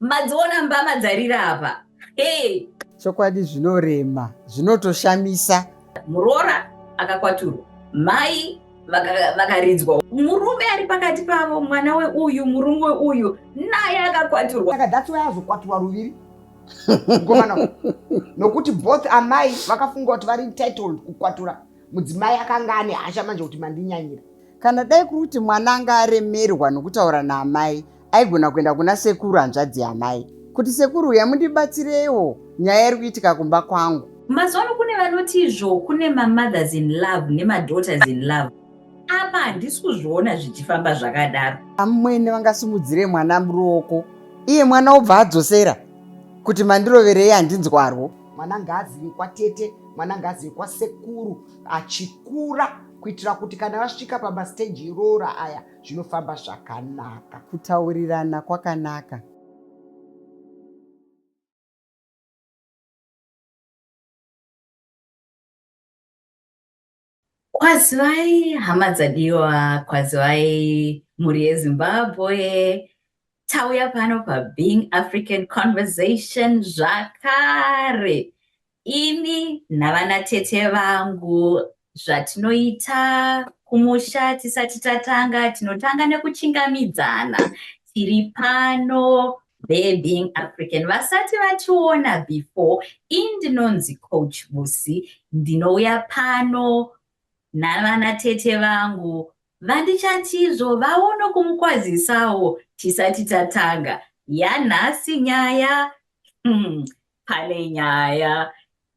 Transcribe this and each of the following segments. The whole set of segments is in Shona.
Madziona mbama dzarira apa. Hey. Chokwadi zvinorema, zvinotoshamisa. Muroora akakwaturwa. Mai vakaridzwa vaka murume ari pakati pavo mwana weuyu murume weuyu naye akakwaturwa saka that's why azokwaturwa ruviri mukomana nokuti both amai vakafunga kuti vari entitled kukwatura mudzimai akanga ane hasha manje kuti mandinyanyira kana dai kuri kuti mwana anga aremerwa nokutaura naamai aigona kuenda kuna sekuru hanzvadzi yamai kuti sekuru uya mundibatsireiwo nyaya iri kuitika kumba kwangu mazuva ano kune vanoti izvo kune mamothers in love nemadaughters in love apa handisi kuzviona zvichifamba zvakadaro amwene vangasimudzire mwana muruoko iye mwana obva adzosera kuti mandiroverei handinzwarwo mwana ngaazivi kwatete mwana ngaazivi kwasekuru achikura kuitira kuti kana vasvika pamasteji iroora aya zvinofamba zvakanaka. Kutaurirana kwakanaka. Kwazivai hama dzadiwa, kwazivai mhuri yeZimbabwe. Tauya pano paBeing African Conversation zvakare. Ini navanatete vangu zvatinoita kumusha tisati tatanga tinotanga nekuchingamidzana tiri pano they being african vasati vationa before indinonzi coach busi ndinouya pano navana tete vangu vandichatizvo vaono kumukwazisawo tisati tatanga yanhasi nyaya hmm, pane nyaya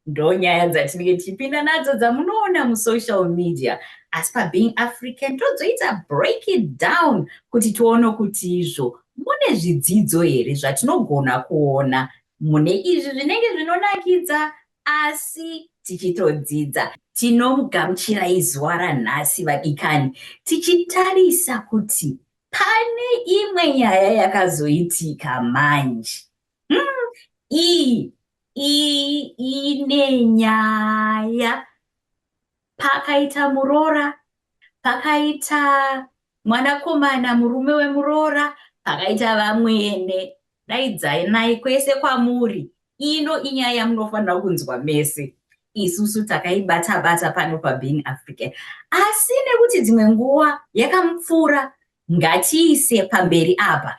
ndonyaya dzatinenge tichipinda nadzo dzamunoona musocial media asi pabeing african tozoita break it down kuti tione kuti izvo mune zvidzidzo here zvatinogona kuona mune izvi zvinenge zvinonakidza asi tichitodzidza tinomugamuchirai zuva ranhasi vadikani tichitarisa kuti pane imwe nyaya yakazoitika manje mm, iyi iyi ine nyaya pakaita muroora pakaita mwanakomana murume wemuroora pakaita vamwene daidzai nai kwese kwamuri ino inyaya yamunofanira kunzwa mese isusu takaibata bata pano pabeing african asi nekuti dzimwe nguva yakamupfuura ngatiise pamberi apa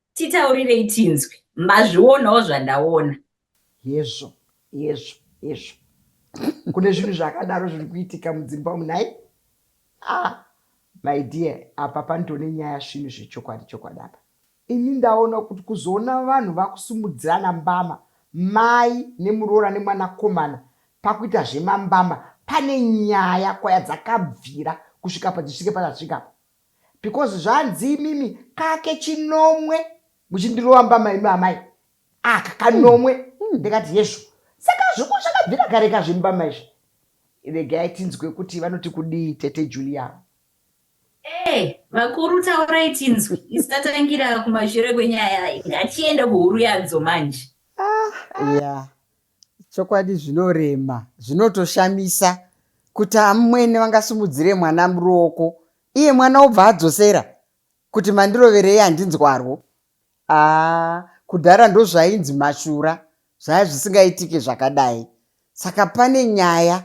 Titaurirei tinzwe. Mazvionawo zvandaona. Hezvo, hezvo, hezvo. Kune zvinhu zvakadaro zviri kuitika mudzimba umu nhai? Ah, my dear, apa pandone nyaya svinu zvechokwadi chokwadi apa. Ini ndaona kuti kuzoona vanhu vakusumudzirana mbama, mai nemuroora nemwanakomana pakuita zvemambama pane nyaya kwaya dzakabvira kusvika padzisvike padzasvika apa. because zvanzi imimi kake chinomwe muchindirova mbama imi amai aka kanomwe mm. ndikati yeshu saka zviku zvakabvira kare kazvi mbama izvi regai tinzwe kuti vanoti kudii tete julian Eh, vakuru taurai tinzwi isatatangira kumashure kwenyaya ngachienda kuhuru yadzo manje ah, yeah. Chokwadi zvinorema zvinotoshamisa kuti amwene vangasimudzire mwana muruoko iye mwana obva adzosera kuti mandiroverei handinzwarwo. Haa kudhara ndozvainzi mashura zvaya zvisingaitike zvakadai saka pane nyaya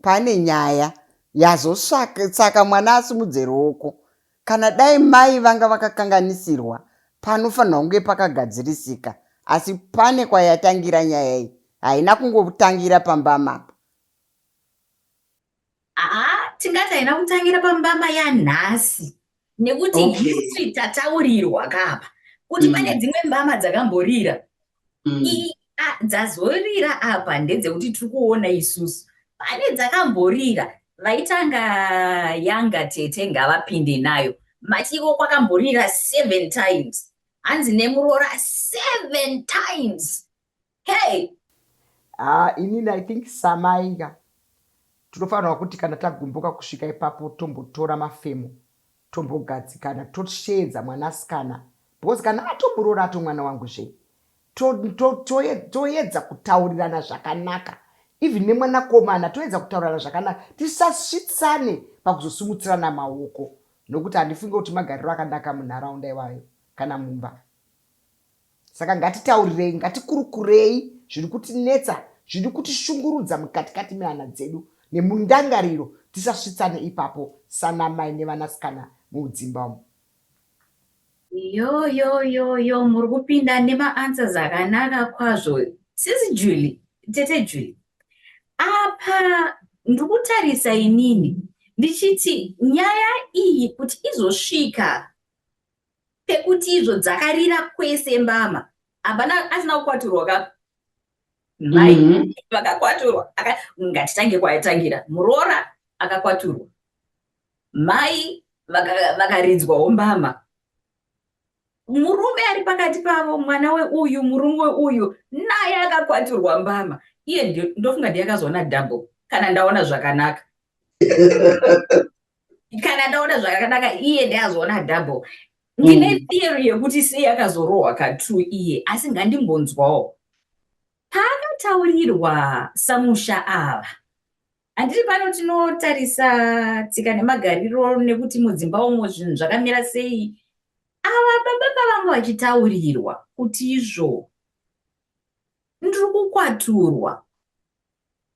Pane nyaya yazosvaka saka mwana asimudze ruoko. Kana dai mai vanga vakakanganisirwa panofanirwa kunge pakagadzirisika asi pane kwayatangira nyaya iyi haina kungotangira pambama apa. Haa tingati haina kutangira pambama yanhasi. nekuti okay. history tataurirwa kapa kuti mm. pane dzimwe mbama dzakamborira mm. dzazorira apa ndedzekuti tiri kuona isusu pane dzakamborira vaitanga yanga tete ngavapinde nayo matiko kwakamborira seven times hanzi nemuroora seven times hey haa inini i think samai ka tinofanirwa kuti kana tagumbuka kusvika ipapo tombotora mafemo tombogadzikana tosheedza mwanasikana because kana atomuroora ato mwana wangu zve toedza kutaurirana zvakanaka even nemwanakomana toedza kutaurirana zvakanaka tisasvitsane pakuzosimutsirana maoko nokuti handifunge kuti magariro akanaka munharaunda iwayo kana mumba Saka ngatitaurirei, ngatikurukurei zviri kutinetsa, zviri kutishungurudza mukatikati mehana dzedu nemundangariro, tisasvitsane ipapo sanamai nevanasikana muudzimba umu. Yoyoyoyo muri kupinda nemaanswers akanaka kwazvo sisi Julie, tete Julie. Apa ndiri kutarisa inini ndichiti nyaya iyi kuti izosvika pekuti izvo dzakarira kwese mbama hapana asina kukwaturwa ka mai mm -hmm. vakakwaturwa ngatitange kwaitangira muroora akakwaturwa mai vakaridzwawo vaka mbama murume ari pakati pavo mwana weuyu murume weuyu naye akakwaturwa mbama iye ndofunga ndiye akazoona double kana ndaona zvakanaka kana ndaona zvakadaka iye ndeyazviona double ndine mm. theory yekuti sei akazorohwa katu iye asi ngandimbonzwawo paakataurirwa samusha ava handiri pano tinotarisa tsika nemagariro nekuti mudzimba umo zvinhu zvakamira sei ava baba pavanga vachitaurirwa kuti izvo Ndiri kukwaturwa.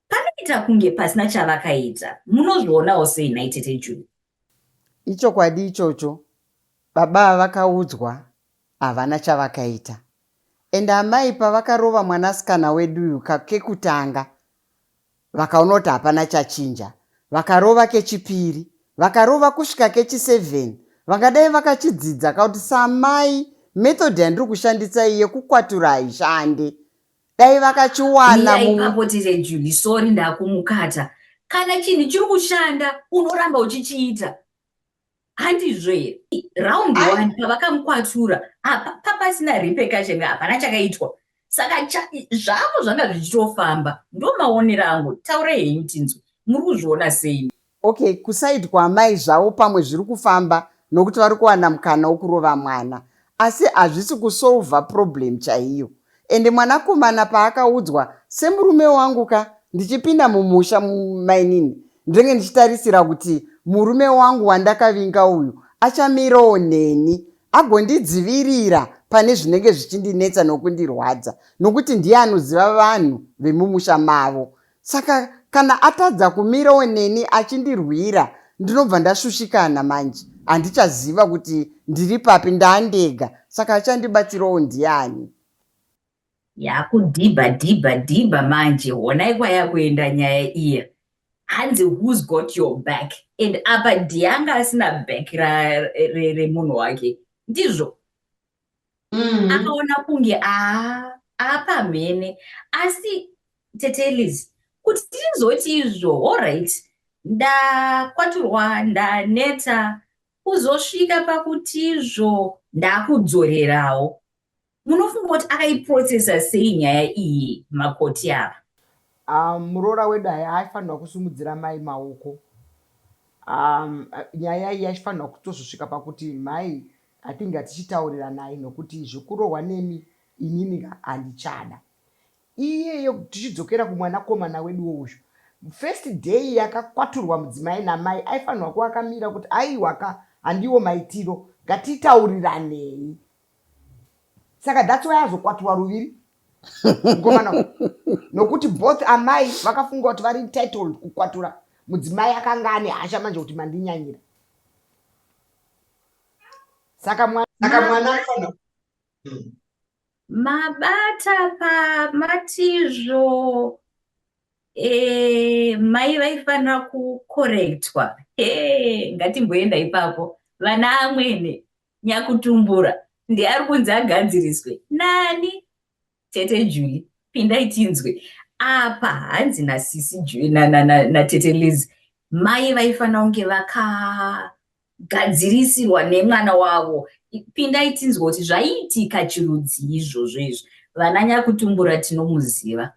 Panoita kunge pasina chavakaita. Munozvionawo sei nhai tete Juni? Ichokwadi ichocho. Baba vakaudzwa havana chavakaita. Ende amai pavakarova mwanasikana wedu uyu kekutanga Vakaona kuti hapana chachinja vakarova kechipiri vakarova kusvika kechiseven vangadai vakachidzidza ka kuti samai method yandiri kushandisa iyi yekukwatura haishande dai vakachiwana Mira ipapo tire Julie sorry ndakumukata kana chinhu chiri kushanda unoramba uchichiita handizvo here round one pavakamukwatura apa papasina repercussion hapana chakaitwa saka zvavo zvanga zvichitofamba ndo maonero angu taura henyu tinzwe muri kuzviona sei okay kusaidwa amai zvavo pamwe zviri kufamba nokuti vari kuwana mukana wokurova mwana asi hazvisi kusolver problem chaiyo and mwanakomana paakaudzwa semurume wangu ka ndichipinda mumusha mainini ndenge ndichitarisira kuti murume wangu wandakavinga uyu achamirawo neni agondidzivirira pane zvinenge zvichindinetsa nokundirwadza nokuti ndiye anoziva vanhu vemumusha mavo saka kana atadza kumirawo neni achindirwira ndinobva ndashushikana manje handichaziva kuti ndiri papi ndandega saka achandibatsirawo ndiani yakudhibha dhibha dhibha manje honai kwayakuenda nyaya iya hanzi who's got your back and apa dhianga asina back remunhu wake ndizvo mm. akaona kunge aapamhene asi tete liz kuti tizoti izvo allright ndakwaturwa ndaneta kuzosvika pakuti izvo ndakudzorerawo munofunga kuti akaiprocesa sei nyaya iyi makoti ava um, muroora wedu aya aifanirwa kusumudzira mai maoko um, nyaya iyi yaifanirwa kutozosvika pakuti mhai I think ngatichitauriranai nokuti zvekurohwa nemi inini handichada. Iyeyo tichidzokera kumwanakomana weduwo uyu, first day yakakwaturwa mudzimai namai aifanirwa kuva akamira kuti aiwa ka handiwo maitiro ngatitauriranei. Saka that's why azokwaturwa ruviri mukomana uyu nokuti both amai vakafunga kuti vari entitled kukwatura mudzimai akanga ane hasha manje kuti mandinyanyira. saka mwana saka mwana anofanira hmm. mabata pamatizvo e, mai vaifanira kukorektwa e, ngatimboenda ipapo vana amwene nyakutumbura ndiari kunzi agadziriswe nani Tete Julie, pindai tinzwe. Apa hanzi nasisi Julie na, na, na, na Tete Liz mai vaifanira kunge vakagadzirisirwa nemwana wavo. Pindai tinzwe kuti zvaiitika chirudzii izvozvo izvi. Vana nyakutumbura tinomuziva.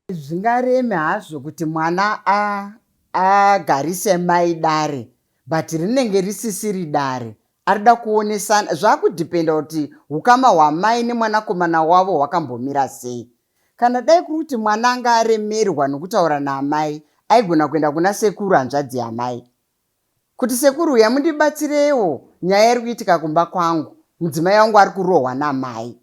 Hazvingareme hazvo kuti mwana a, agarise mai dare but rinenge risisiri dare. Arikuda kuonesana, zvakudependa kuti hukama hwamai nemwanakomana wavo hwakambomira sei. Kana dai kuri kuti mwana anga aremerwa nekutaura naamai, aigona kuenda kuna sekuru hanzvadzi yamai kuti sekuru uya mundibatsirewo nyaya irikuitika kumba kwangu, mudzimai wangu arikurohwa namai.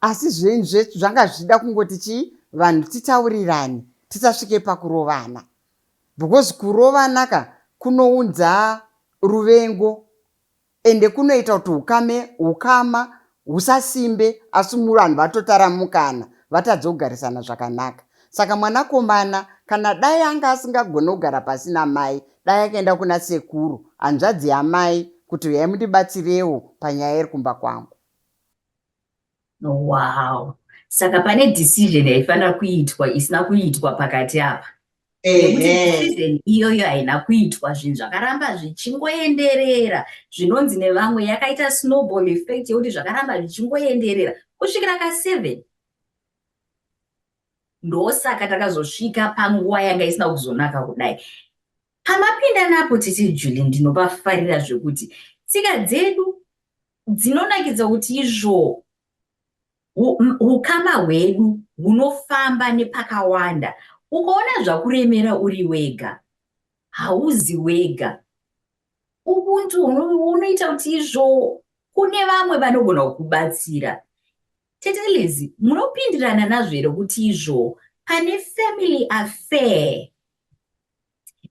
asi zvenyu zvetu zvanga zvichida kungoti chii vanhu titaurirane tisasvike pakurovana because kurovana ka kunounza ruvengo ende kunoita kuti ukame ukama husasimbe asi muvanhu vatotaramukana vatadze kugarisana zvakanaka saka mwanakomana kana dai anga asingagone kugara pasi namai dai akaenda kuna sekuru hanzvadzi yamai kuti uyai mundibatsirewo panyaya iri kumba kwangu wow saka pane decision yaifanira kuitwa isina kuitwa pakati apa nekuti iyoyo haina kuitwa zvinhu zvakaramba zvichingoenderera zvinonzi nevamwe yakaita snowball effect yekuti zvakaramba zvichingoenderera kusvikira ka seven ndosaka takazosvika panguva yanga isina kuzonaka kudai pamapinda napo tete juli ndinopafarira zvekuti tsika dzedu dzinonakidza kuti izvoo ukama hwedu hunofamba nepakawanda ukaona zvakuremera uri wega hauzi wega ubuntu unoita kuti izvoo kune vamwe vanogona kukubatsira tetelezi munopindirana nazvo here kuti izvoo pane family affair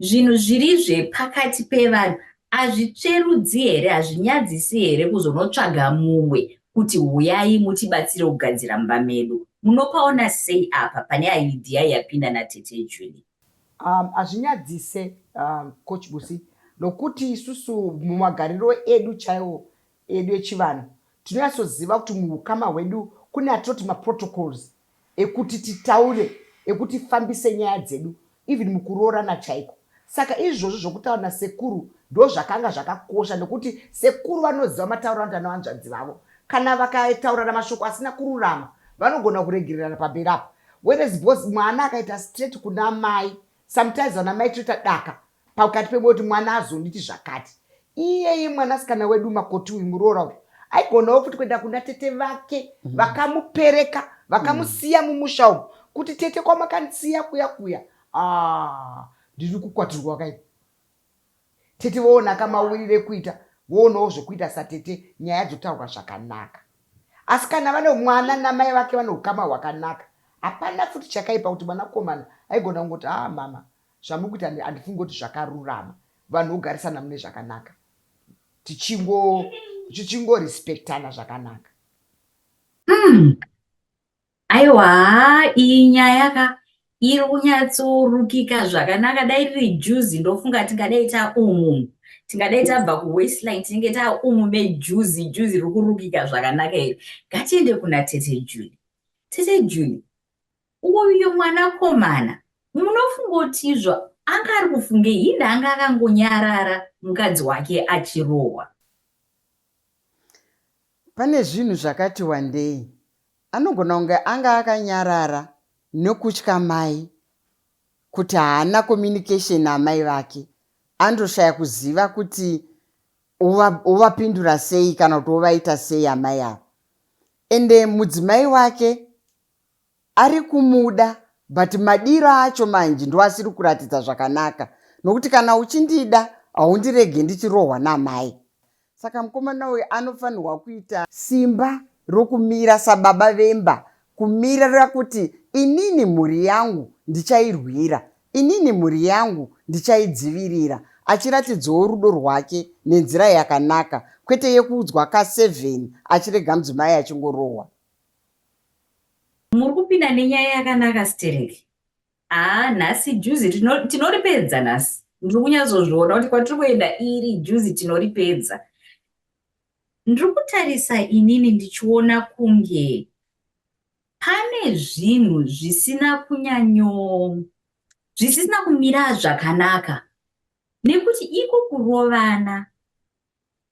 zvinhu zviri zvepakati pevanhu azvitsverudzi here hazvinyadzisi here kuzonotsvaga mumwe kuti huyai mutibatsire kugadzira mumba medu munopaona sei apa pane aidiya yapinda natete julie um, hazvinyadzise um, coach busi nokuti isusu mumagariro edu chaiwo edu echivanhu tinonyatsoziva kuti muhukama hwedu kune atinoti maprotocols ekuti titaure ekuti fambise nyaya dzedu even mukuroorana chaiko saka izvozvo zvokutaura nasekuru ndozvakanga zvakakosha nekuti sekuru vanoziva matauro anoita nevanzvadzi vavo kana vakataurirana mashoko asina kururama vanogona kuregererana pamberi apa whereas bcause mwana akaita straight kuna mai sometimes vana mai toita daka pakati pemwe kuti mwana azonditi zvakati iyeye mwanasikana wedu makoti uyu muroora uyu aigonawo futi kuenda kuna tete vake mhm. vakamupereka vakamusiya mumusha umu kuti tete kwamakandisiya kuya kuya ah, ndiri kukwatirwa kai tete voona akamawirire kuita voonawo zvekuita satete nyaya dzotaurwa zvakanaka asi kana vane mwana namai vake vane ukama hwakanaka hapana futi chakaipa kuti mwanakomana aigona kungoti haa ah, mama Zvamukuita handifungi kuti zvakarurama vanhu vogarisana mune zvakanaka tichingorespectana tichingo zvakanaka mm. aiwa iyi nyaya ka iri kunyatsorukika zvakanaka dai riri juzi ndofunga tingadai taumu tingadai tabva kuwestline tinenge taumu mejuzi juzi riri kurukika zvakanaka iri ngatiende kuna tete juli tete juli Uyu mwanakomana munofunga kuti izvo anga ari kufungei? Hinda anga akangonyarara mukadzi wake achirohwa. Pane zvinhu zvakati wandei. Anogona kunge anga akanyarara nekutya mai kuti haana communication naamai vake andoshaya kuziva kuti ovapindura sei kana kuti ovaita sei amai avo ende mudzimai wake arikumuda but madiro acho manje ndoasiri kuratidza zvakanaka nokuti kana uchindida haundirege ndichirohwa namai saka mukomana uyu anofanirwa kuita simba rokumira sababa vemba kumirira kuti inini mhuri yangu ndichairwira inini mhuri yangu ndichaidzivirira achiratidzawo rudo rwake nenzira yakanaka kwete yekuudzwa ka7 achirega mudzimai achingorohwa Muri kupinda nenyaya yakanaka stereki. Haa nhasi juzi tinoripedza nhasi. Ndiri kunyazozviona kuti kwatiri kuenda iri juzi tinoripedza. Ndiri kutarisa inini ndichiona kunge pane zvinhu zvisina kunyanyo zvisina kumira zvakanaka nekuti iko kurovana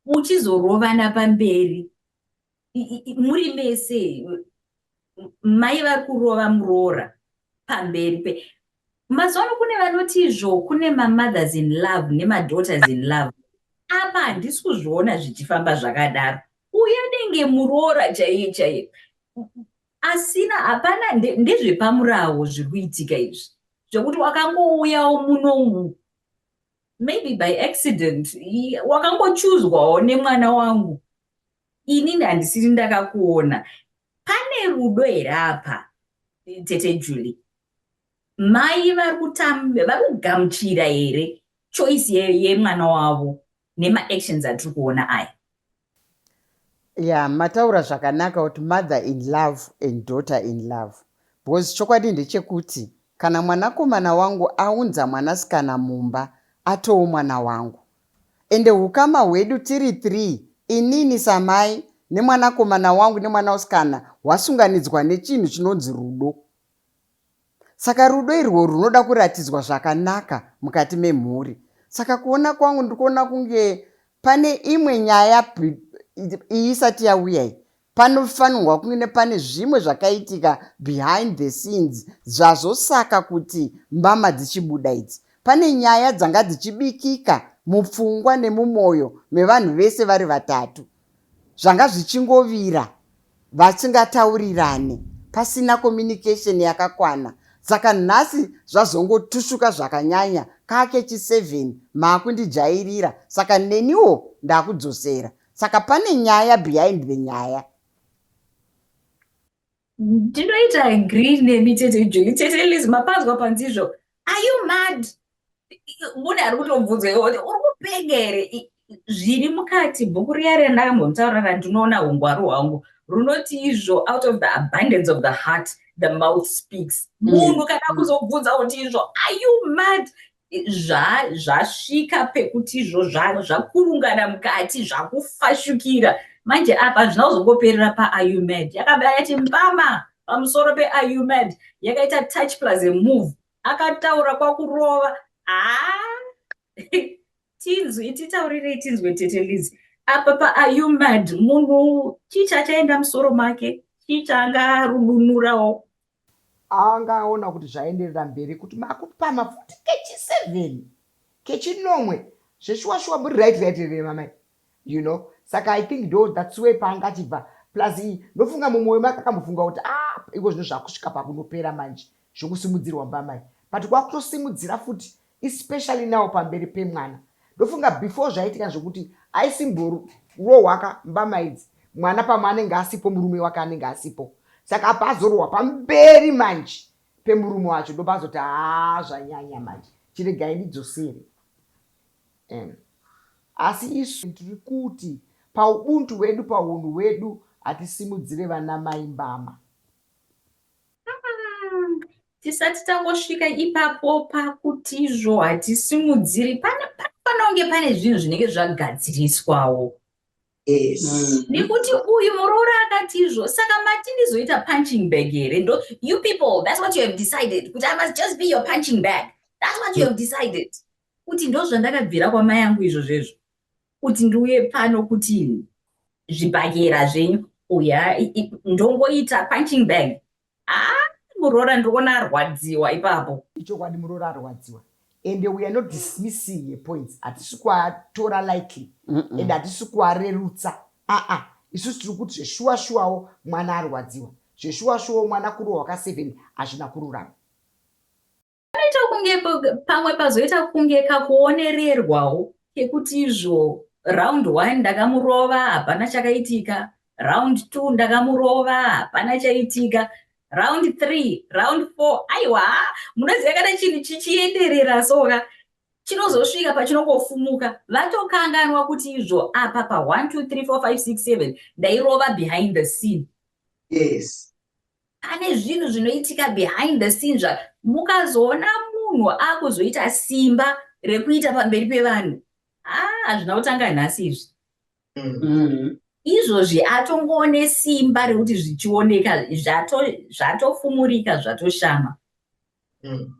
uchizorovana pamberi muri mese mai vari kurova muroora pamberi pe mazuva ano kune vanoti izvo kune mamothers in love nemadaughters in love apa handisi kuzviona zvichifamba zvakadaro uye denge muroora chaiye chaiye asina hapana ndezvepamurawo zviri kuitika izvi zvekuti wakangouyawo muno umu maybe by accident wakangochuzwawo nemwana wangu inini handisiri ndakakuona pane rudo here apa tete julie mai vari kugamuchira here choice yemwana wavo nemaactions atiri kuona aya Yeah mataura zvakanaka kuti mother in love and daughter in love because chokwadi ndechekuti kana mwanakomana wangu aunza mwanasikana mumba atowo mwana wangu ende ukama hwedu tiri three inini samai nemwanakomana wangu nemwana usikana hwasunganidzwa nechinhu chinonzi rudo Saka rudo irwo runoda kuratidzwa zvakanaka mukati memhuri. Saka kuona kwangu ndikuona kunge pane imwe nyaya iyi isati yauya iyi panofanirwa kunge pane zvimwe zvakaitika behind the scenes zvazosaka kuti mbama dzichibuda idzi pane nyaya dzanga dzichibikika mupfungwa nemumwoyo mevanhu vese vari vatatu zvanga zvichingovira vachingataurirane pasina communication yakakwana saka nhasi zvazongotushuka zvakanyanya kake chi7 maakundijairira saka neniwo ndakudzosera saka pane nyaya behind the nyaya ndinoita agree nemi tete juli tete liz mapanzwa panzizvo are you mad mune ari kutobvunza iwe kuti uri kupenga here zviri mukati bhuku riya randakambomutaura ra ndinoona hungwaru hwangu runoti izvo out of the abundance of the heart the mouth speaks mm. munhu kana kuzobvunza kuti izvo are you mad zvasvika zva pekuti izvo zvakurungana mukati zvakufashukira manje apa hazvina kuzongoperera paaumed yakabva yati mbama pamusoro peaumed yakaita touch plus move akataura kwakurova haa tinzwi titaurirei tinzwe tete lizi apa paaumed munhu chii chachaenda musoro make chii chaanga arudunurawo Anga aona kuti zvaenderera mberi kuti makupama futi kechi seven kechinomwe zveshuwa shuwa muri right right here mamai you know saka i think do that's way paanga achibva plus iyi ndofunga mumwoyo make akambofunga kuti a ah, iko zvino zvakusvika pakunopera manje zvokusimudzirwa mbamai but kwakutosimudzira futi especially now pamberi pemwana ndofunga before zvaitika zvekuti aisimborowaka mbama idzi mwana pamwe anenge asipo murume wake anenge asipo saka apa azorohwa pamberi manje pemurume wacho ndopazoti haa zvanyanya manje chiregai ndidzosere um, asi isu tiri kuti paubuntu hwedu paunhu hwedu hatisimudzire vana mai mbama Tisati tangosvika ipapo pakutizvo hatisimudziri panofanira kunge pane zvinhu zvinenge zvagadziriswawo mm. nekuti uyu muroora akatizvo saka mati ndizoita punching bag here ndo you people thats what you have decided kuti i must just be your punching bag thats what you have decided kuti ndo zvandakabvira kwamai yangu izvo zvezvo kuti ndiuye pano kuti zvibhakera zvenyu uya ndongoita punching bag ah muroora ndikuona arwadziwa ipapo ichokwadi muroora arwadziwa and we are not dismissing her points hatisi kuatora likely and hatisi kuarerutsa aa isusu tiri kuti zveshuwa shuwawo mwana arwadziwa zveshuwa shuwawo mwana kurohwa ka seven hazvina kururama panoita kunge pamwe pazoita kunge kakuonererwawo kekuti izvo round one ndakamurova hapana chakaitika round two ndakamurova hapana chaitika round three round four aiwa munoziva kana chinhu chichienderera soka chinozosvika pachinongofumuka vatokanganwa kuti izvo apa pa 1 2 3 4 5 6 7 ndairova behind the scene yes pane zvinhu zvinoitika behind the scene zva mukazoona munhu akuzoita simba rekuita pamberi pevanhu haa ah, zvina kutanga nhasi izvi mm-hmm. izvozvi atongoone simba rekuti zvichioneka zvatofumurika zvatoshama mm.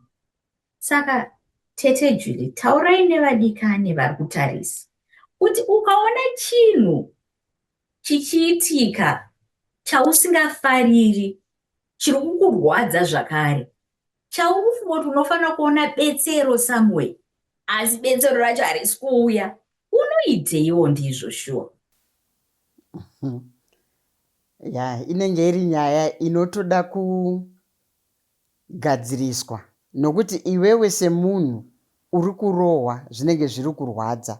saka tete juli taurai nevadikani vari kutarisa kuti ukaona chinhu Chichiitika chausingafariri chiri kukurwadza zvakare. Chauri kufunga kuti unofanira kuona betsero somewhere asi betsero racho harisi kuuya. Unoiteiwo ndizvo shuwa? Ya, inenge iri nyaya inotoda ku gadziriswa nokuti iwewe semunhu uri kurohwa zvinenge zviri kurwadza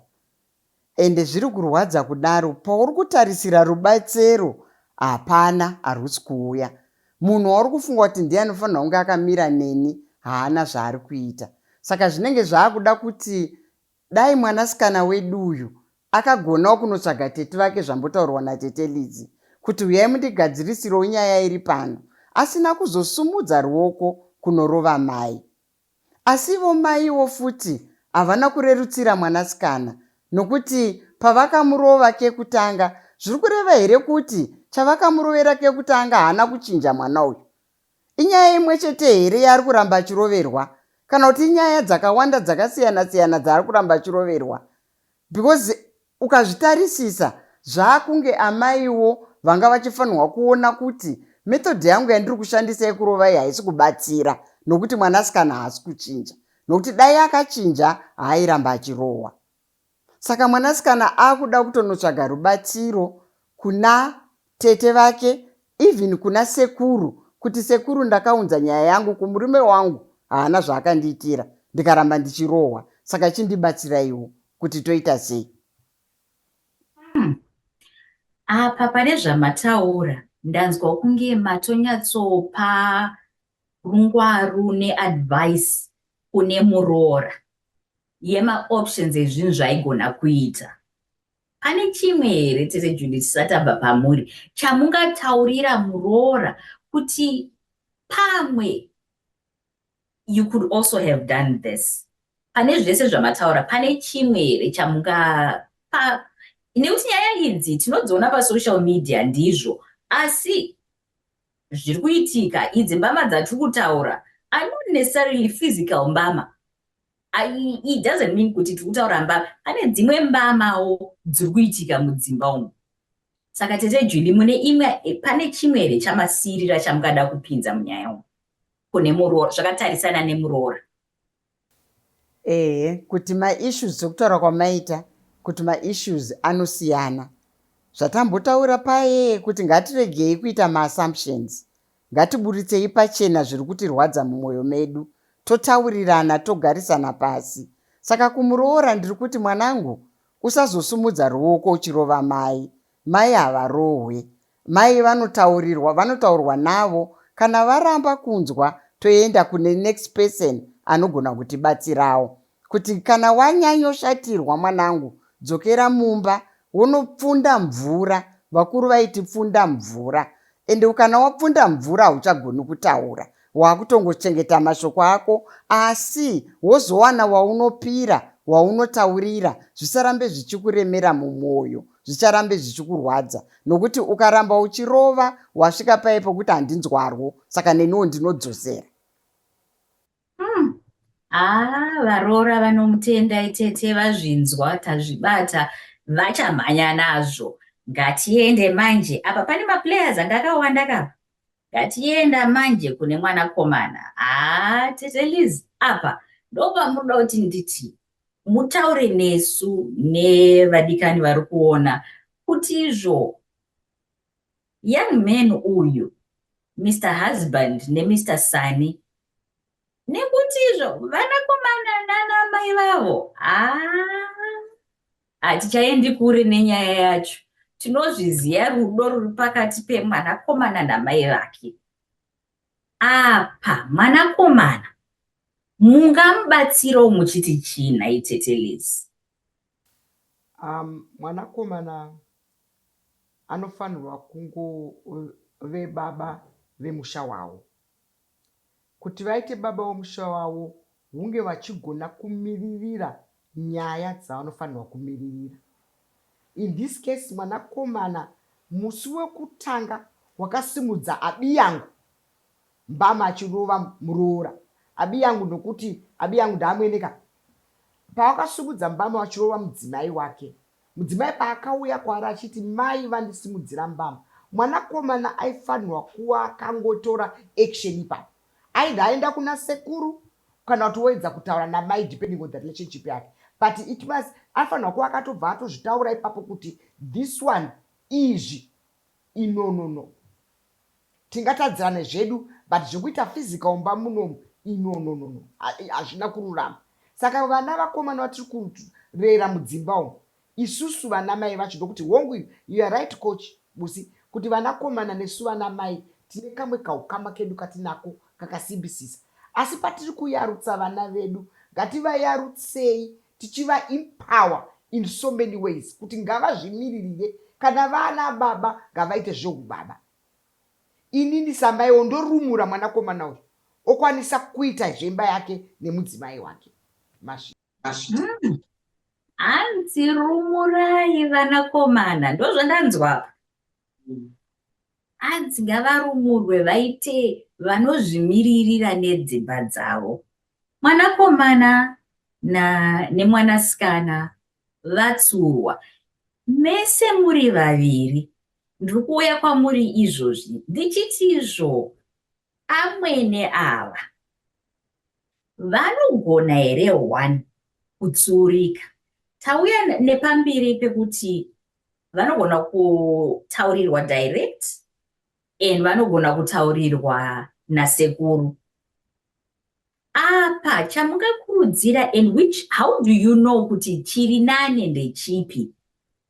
ende zviri kurwadza kudaro pauri kutarisira rubatsero hapana harusi kuuya munhu wauri kufunga kuti ndiye anofanirwa kunge akamira neni haana zvaari kuita saka zvinenge zvaakuda kuti Dai mwanasikana wedu uyu akagonawo kunotsvaga tete vake zvambotaurwa natete Lidzi kuti huyai mundigadzirisirewo nyaya iri pano asina kuzosumudza ruoko kunorova mai. Asi ivo maiwo futi havana kurerutsira mwanasikana nokuti pavakamurova kekutanga zviri kureva here kuti chavakamurovera kekutanga haana kuchinja mwana uyu? Inyaya imwe chete here yaari kuramba achiroverwa kana kuti inyaya dzakawanda dzakasiyana siyana dzaari kuramba achiroverwa because ukazvitarisisa zvaakunge amaiwo vanga vachifanirwa kuona kuti method yangu yandiri kushandisa yekurovai haisi kubatsira nokuti mwanasikana haasi kuchinja nokuti dai akachinja haairamba achirohwa Saka mwanasikana akuda kutonotsvaga rubatsiro kuna tete vake even kuna sekuru kuti sekuru ndakaunza nyaya yangu kumurume wangu haana zvaakandiitira ndikaramba ndichirohwa saka chindibatsiraiwo kuti toita sei hmm. apa pane zvamataura ndanzwa kunge matonyatsopa rungwaru neadvice kune muroora yemaoptions ezvinhu zvaigona kuita. Pane chimwe here tete Judith tisati tabva pamhuri chamungataurira muroora kuti pamwe you could also have done this pane zvese zvamataura pane chimwe here chamungapa nekuti nyaya idzi tinodziona pasocial media ndizvo asi zviri kuitika idzi mbama dzatiri kutaura are not necessarily physical mbama it doesn't mean kuti tiri kutaura mbama pane dzimwe mbamawo dziri kuitika mudzimba umu saka tete juli mune imwe eh, pane chimwe here chamasiirira chamukada kupinza munyaya umu kune muroora zvakatarisana nemuroora ehe kuti maissues dzokutaura kwamaita kuti maissues anosiyana zvatambotaura paye kuti ngatiregei kuita maassumptions Ngatiburitsei pachena zviri kutirwadza mumwoyo medu, totaurirana, togarisana pasi. Saka kumuroora ndiri kuti, mwanangu, usazosumudza ruoko uchirova mai. Mai havarohwe. Mai vanotaurirwa, vanotaurwa navo. Kana varamba kunzwa, toenda kune next person anogona kutibatsirawo. Kuti kana wanyanyoshatirwa mwanangu dzokera mumba wonopfunda mvura vakuru vaiti pfunda mvura ende ukana wapfunda mvura hauchagoni kutaura wakutongochengeta mashoko ako asi wozowana waunopira waunotaurira zvisarambe zvichikuremera mumwoyo zvicharambe zvichikurwadza nokuti ukaramba uchirova wasvika paye pokuti handinzwarwo saka neniwo ndinodzosera Hmm. Ah, varoora vanomutendai tete vazvinzwa tazvibata vachamhanya nazvo ngatiende manje apa pane maplayers anga akawanda kapa ngatienda manje kune mwana komana haa tete liz apa ndopamunoda kuti nditi mutaure nesu nevadikani vari kuona kuti izvo young man uyu mr husband nemr sani nekutizvo vanakomana nanamai vavo hatichaendi kure nenyaya yacho tinozviziva rudo ruri pakati pemwanakomana namai vake apa mwanakomana mungamubatsirawo muchiti chii nhai tetelezi Um mwanakomana anofanirwa kungove baba vemusha wavo. Kuti vaite baba vemusha wavo hunge vachigona kumiririra nyaya dzavanofanirwa kumiririra. In this case mwanakomana musi wekutanga wakasimudza abiyangu mbama achirova muroora Abiyangu nokuti Abiyangu ndaamwene ka. Pawakasimudza mbama wachirova mudzimai wake. Mudzimai paakauya kwaari achiti mai vandisimudzira mbama mwanakomana aifanirwa kuva akangotora action ipapo. Either aenda kuna sekuru kana kuti woedza kutaura namai depending on the relationship yake but it must anofanirwa kuva akatobva atozvitaura ipapo kuti this one izvi inonono. Tingatadzirane zvedu but zvekuita physical mumba munomu inononono hazvina kururama. Saka vana vakomana vatiri kurera mudzimba umu isusu vana mai vacho ndokuti hongu iyo you are right coach Busi kuti vana komana nesu vana mai tine kamwe kahukama kedu katinako kakasimbisisa asi patiri kuyarutsa vana vedu ngativayarutsei tichiva empower in so many ways kuti ngavazvimiririre kana vana baba ngavaite zvehubaba inini samaiwo ndorumura mwanakomana uyu okwanisa kuita zvemba yake nemudzimai wake Mashi. Mashi. Mm. hanzi rumurai vanakomana ndozvandanzwa apa mm. hanzi ngavarumurwe vaite vanozvimiririra nedzimba dzavo mwanakomana na nemwanasikana vatsurwa mese muri vaviri ndiri kuuya kwamuri izvozvi ndichiti izvo amwene ava vanogona here one kutsuurika tauya nepamberi pekuti vanogona kutaurirwa direct and vanogona kutaurirwa nasekuru apa chamungakurudzira and which how do you know kuti chiri nane ndechipi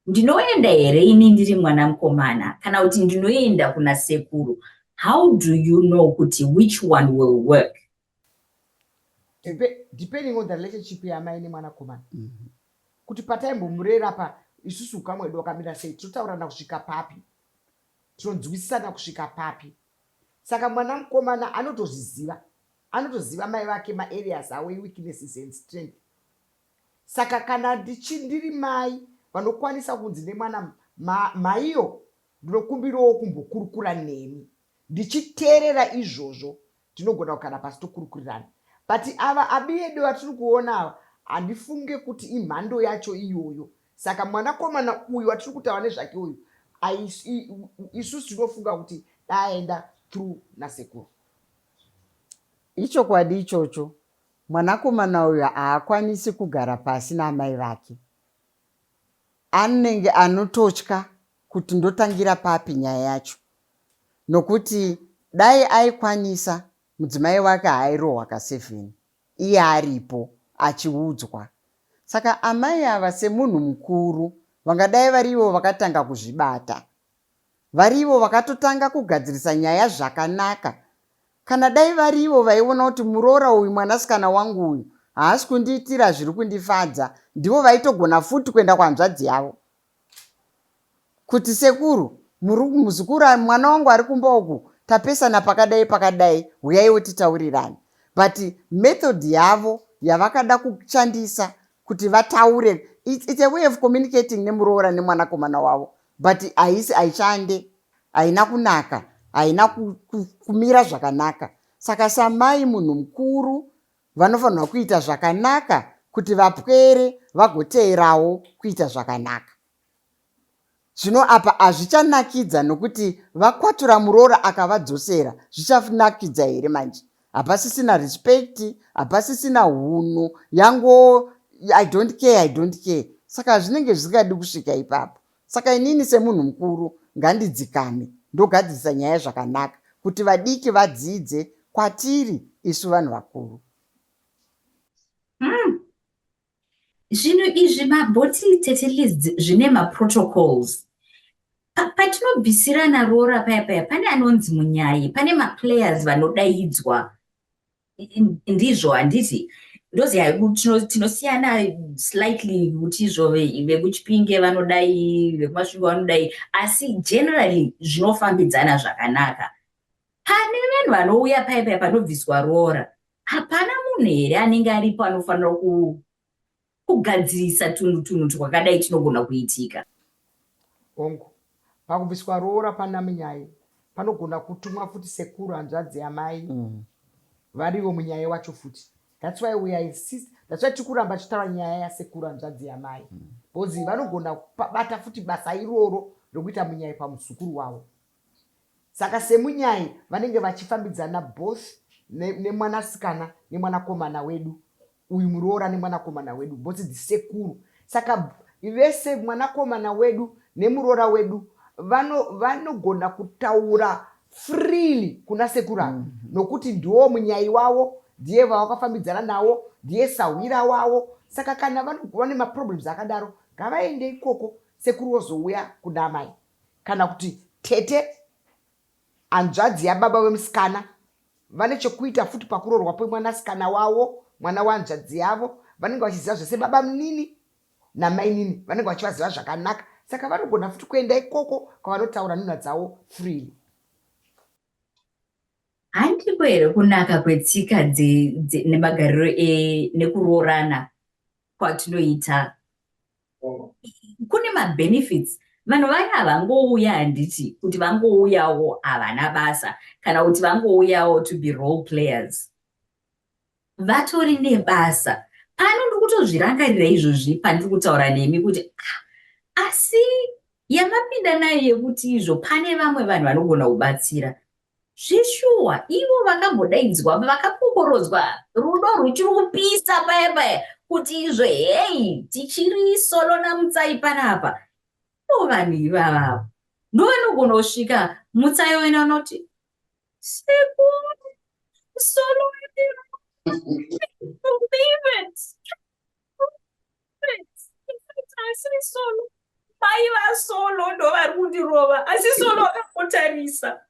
ndinoenda here ini ndiri mwana mukomana kana kuti ndinoenda kuna sekuru how do you know kuti which one will work depending on the relationship yamai nemwanakomana mm -hmm. kuti pataimbomurera pa isusu ukamwedu wakamira sei tinotaurirana kusvika papi tinonzwisisana kusvika papi Saka mwana mukomana anotozviziva anotoziva mai vake maareas awo eweaknesses and strength saka kana ndichi ndiri mai vanokwanisa kunzi nemwana maiyo ma, ndinokumbirawo kumbokurukura nemi ndichiteerera izvozvo tinogona kugara pasi tokurukurirana but ava abiyedo vatiri kuona ava handifunge kuti imhando yacho iyoyo Saka mwanakomana uyu watiri kutaura nezvake uyu isusu tinofunga kuti daaenda through nasekuru. Ichokwadi ichocho, mwanakomana uyu haakwanisi kugara pasi naamai vake. Anenge anototya kuti ndotangira papi nyaya yacho, nokuti dai aikwanisa mudzimai wake haairohwa kasevheni. iye aripo achiudzwa. Saka amai ava semunhu mukuru vangadai vari ivo vakatanga kuzvibata. Vari ivo vakatotanga kugadzirisa nyaya zvakanaka. Kana dai vari ivo vaiona kuti muroora uyu mwanasikana wangu uyu haasi kundiitira zviri kundifadza ndivo vaitogona futi kuenda kuhanzvadzi yavo kuti sekuru muzukuru mwana wangu ari kumba uku tapesana pakadai pakadai huyaiwo titaurirane but method yavo yavakada kushandisa kuti vataure it's a way of communicating nemuroora nemwanakomana wavo but haisi haishande haina kunaka haina kumira zvakanaka saka samai munhu mukuru vanofanirwa kuita zvakanaka kuti vapwere vagoteerawo kuita zvakanaka zvino apa hazvichanakidza nokuti vakwatura muroora akavadzosera zvichanakidza here manje hapasisina respect hapasisina hunhu yango i don't care i don't care saka zvinenge zvisingadi kusvika ipapo Saka inini semunhu mukuru ngandidzikame ndogadzirisa nyaya zvakanaka kuti vadiki vadzidze kwatiri isu vanhu vakuru. Hmm. Zvinhu mm. izvi mabhoti tete list zvine maprotocols patinobvisirana roora paya paya pane anonzi munyayi pane maplayers vanodaidzwa ndizvo handiti ndozi tinosiyana slightly kuti izvo vekuchipinge vanodai vekumasvingo vanodai asi generally zvinofambidzana zvakanaka pane vanhu vanouya paye paye panobviswa roora hapana munhu here anenge aripo anofanira Kugadzirisa tunhu tunhu twakadai tunogona kuitika. Hongu. Pakubviswa roora panamunyai panogona kutumwa futi sekuru hanzvadzi yamai mm. varivo munyaya wacho futi thats why we insist thats why tikuramba tichitaura nyaya yasekuru hanzvadzi yamai mm. bcause vanogona bata futi basa iroro rokuita munyai pamuzukuru wavo Saka semunyai vanenge vachifambidzana both nemwanasikana nemwanakomana wedu uyu muroora nemwanakomana wedu both the sekuru saka vese mwanakomana wedu nemuroora wedu vanogona vano kutaura freely kuna sekuru ava mm -hmm. nokuti ndiwo munyai wavo ndiye vavakafambidzana nawo ndiye sahwira wavo saka kana vane maproblems akadaro ngavaende ikoko sekuru vozouya kuna amai kana kuti tete, hanzvadzi yababa vemusikana, vane chekuita futi pakuroorwa kwemwanasikana wavo, mwana wehanzvadzi yavo. Vanenge vachiziva zvese babamunini namainini, vanenge vachivaziva zvakanaka, saka vanogona futi kuenda ikoko kwavanotaura nhunha dzavo freely. Handiko here kunaka kwetsika nemagariro e, nekuroorana kwatinoita kune mabenefits vanhu vaya vangouya handiti kuti vangouyawo havana basa kana kuti vangouyawo to be role players vatori nebasa pano ndiri kutozvirangarira izvozvi pandiri kutaura nemi kuti ah, asi yamapinda nayo yekuti izvo pane vamwe vanhu vanogona kubatsira Zveshuwa ivo vakambodaidzwa apa vakakokorodzwa rudo rwuchiri kupisa paya paya kuti izvo heyi tichiri solo naMutsai panapa. Ivo vanhu ivava avo ndovanogona kusvika Mutsai wena unoti sekuru solo wedu favorite. asiri solo mai vasolo ndo vari kundirova asi solo akakotarisa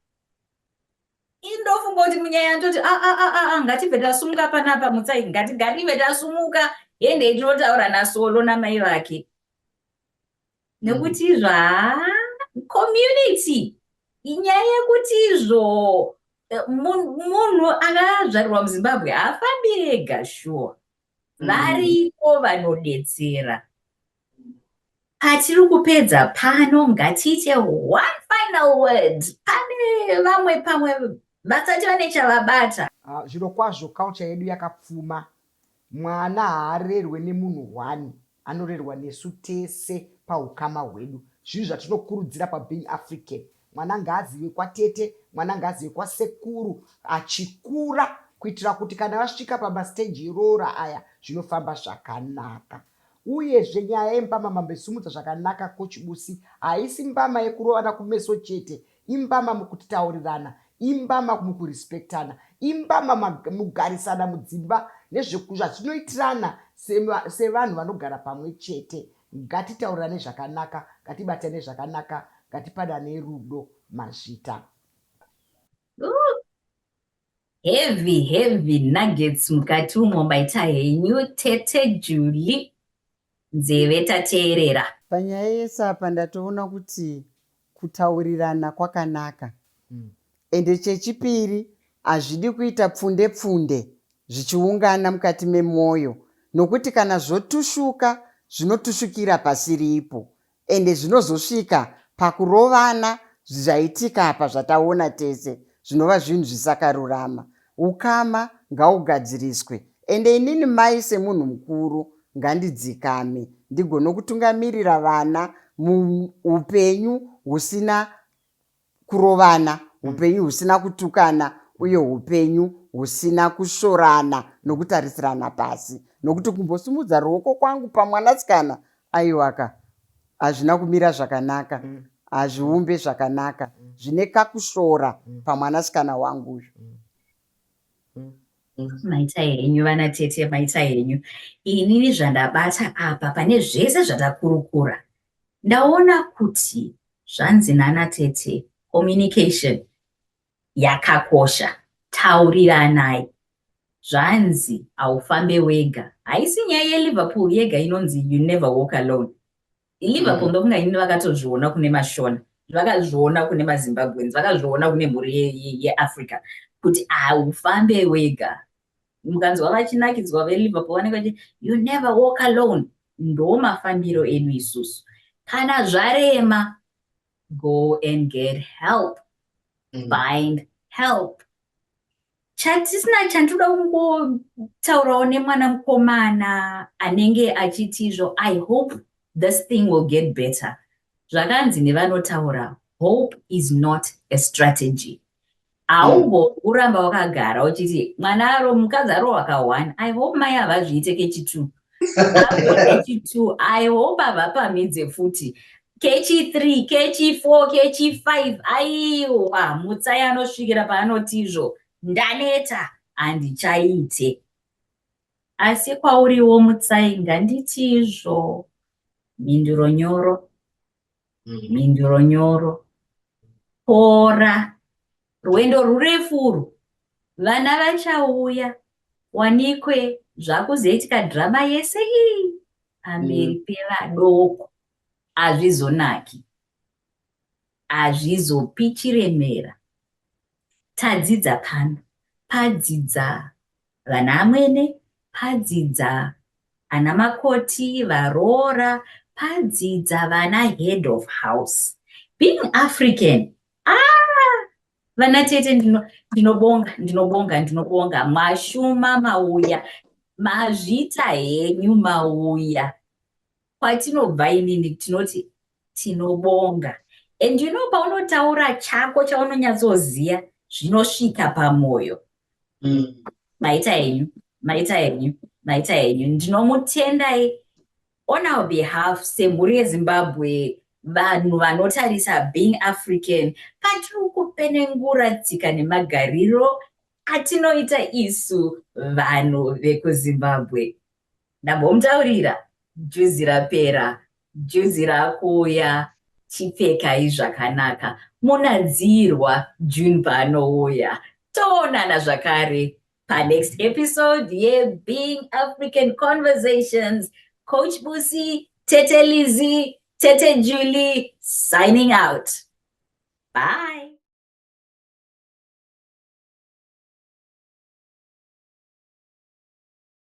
indofunga kuti munyaya ndoti aa ah, ah, ah, ngatibve tasumuka panapa mutsai ngatigarive tasumuka hende tinotaura nasolo namai vake nekuti izvo haa community inyaya yekuti izvo eh, munhu akazvarirwa muzimbabwe haafambi ega shuwa mm. variko vanodetsera patiri kupedza pano ngatiite one final word pane vamwe pamwe vasati vane chavabata ah, zviro kwazvo culture yedu yakapfuma mwana haarerwe nemunhu one Anorerwa nesu tese pahukama hwedu. Zvinhu zvatinokurudzira paBeing African. Mwana ngaazive kwatete, mwana ngaazive kwasekuru achikura kuitira kuti kana vasvika pamastage eroora aya zvinofamba zvakanaka. Uyezve nyaya yembama mambo isimudza zvakanaka Coach Busi haisi mbama yekurovana kumeso chete imbama mukutaurirana, imbama mukurespectana, imbama mugarisana mudzimba nezvazvinoitirana sevanhu vanogara pamwe chete. Ngatitaurirane zvakanaka, ngatibatane zvakanaka, ngatipanane rudo. Mazvita. Heavy heavy nuggets mukati umo baita henyu tete Julie. nzeve tateerera. Panyaya yese apa ndatoona kuti kutaurirana kwakanaka ende chechipiri hazvidi kuita pfunde pfunde zvichiungana mukati memwoyo nokuti kana zvotushuka zvinotushukira pasiripo Ende zvinozosvika pakurovana zvaitika apa zvataona tese zvinova zvinhu zvisakarurama. Ukama ngaugadziriswe ende inini mai semunhu mukuru ngandidzikame ndigone kutungamirira vana muupenyu husina kurovana upenyu husina kutukana uye upenyu husina kushorana nokutarisirana pasi nokuti kumbosimudza ruoko kwangu pamwanasikana aiwaka hazvina kumira zvakanaka mm. hazviumbe zvakanaka mm. zvine kakushora mm. pamwanasikana wangu uyu maita henyu vana tete maita henyu inini zvandabata apa pane zvese zvatakurukura Ndaona kuti zvanzi nana tete communication yakakosha tauriranai zvanzi haufambe wega haisi nyaya yeliverpool yega inonzi you never walk alone iliverpool mm. ndokunga ini vakatozviona kune mashona vakazviona kune mazimbabweans vakazviona kune mhuri yeafrica ye, ye kuti haufambe wega mukanzwa vachinakidzwa veliverpool vanenge vachi you never walk alone ndo mafambiro edu isusu kana zvarema go and get help mm. find help chatisina chandinoda kungotaurawo nemwana mukomana anenge achiti izvo i hope this thing will get better zvakanzi nevanotaura hope is not a strategy haumbo uramba wakagara uchiti mwana aro mukadzi aro wakawana i hope mai havazviite kechi two apo kechi two i hope havapamidze futi kechi three kechi four kechi five aiwa mutsai anosvikira paanotizvo ndaneta handichaite asi kwauriwo mutsai nganditizvo mhinduro nyoro mhinduro nyoro pora rwendo rurefu urwu vana vachauya wanikwe zvakuzoitika drama yese iyi pamberi mm. pevadoko hazvizonaki hazvizopi chiremera Tadzidza pano. Padzidza vana amwene. Padzidza ana makoti, varoora. Padzidza vana head of house. Being African, ah! Vana tete ndinobonga, ndinobonga, ndinobonga. Mashuma mauya. Mazvita henyu mauya. kwatinobva inini tinoti tinobonga and you know paunotaura chako chaunonyatsoziva zvinosvika pamoyo mm. maita enyu maita enyu maita enyu ndinomutendai on our behalf semhuri yezimbabwe vanhu vanotarisa being african patiri kupenengura tsika nemagariro atinoita isu vanhu vekuzimbabwe ndambomutaurira juzi rapera juzi rakuuya chipfekai zvakanaka munadzirwa june paanouya toonana zvakare panext episode yebeing african conversations coach busi tete lizy tete julie signing out bye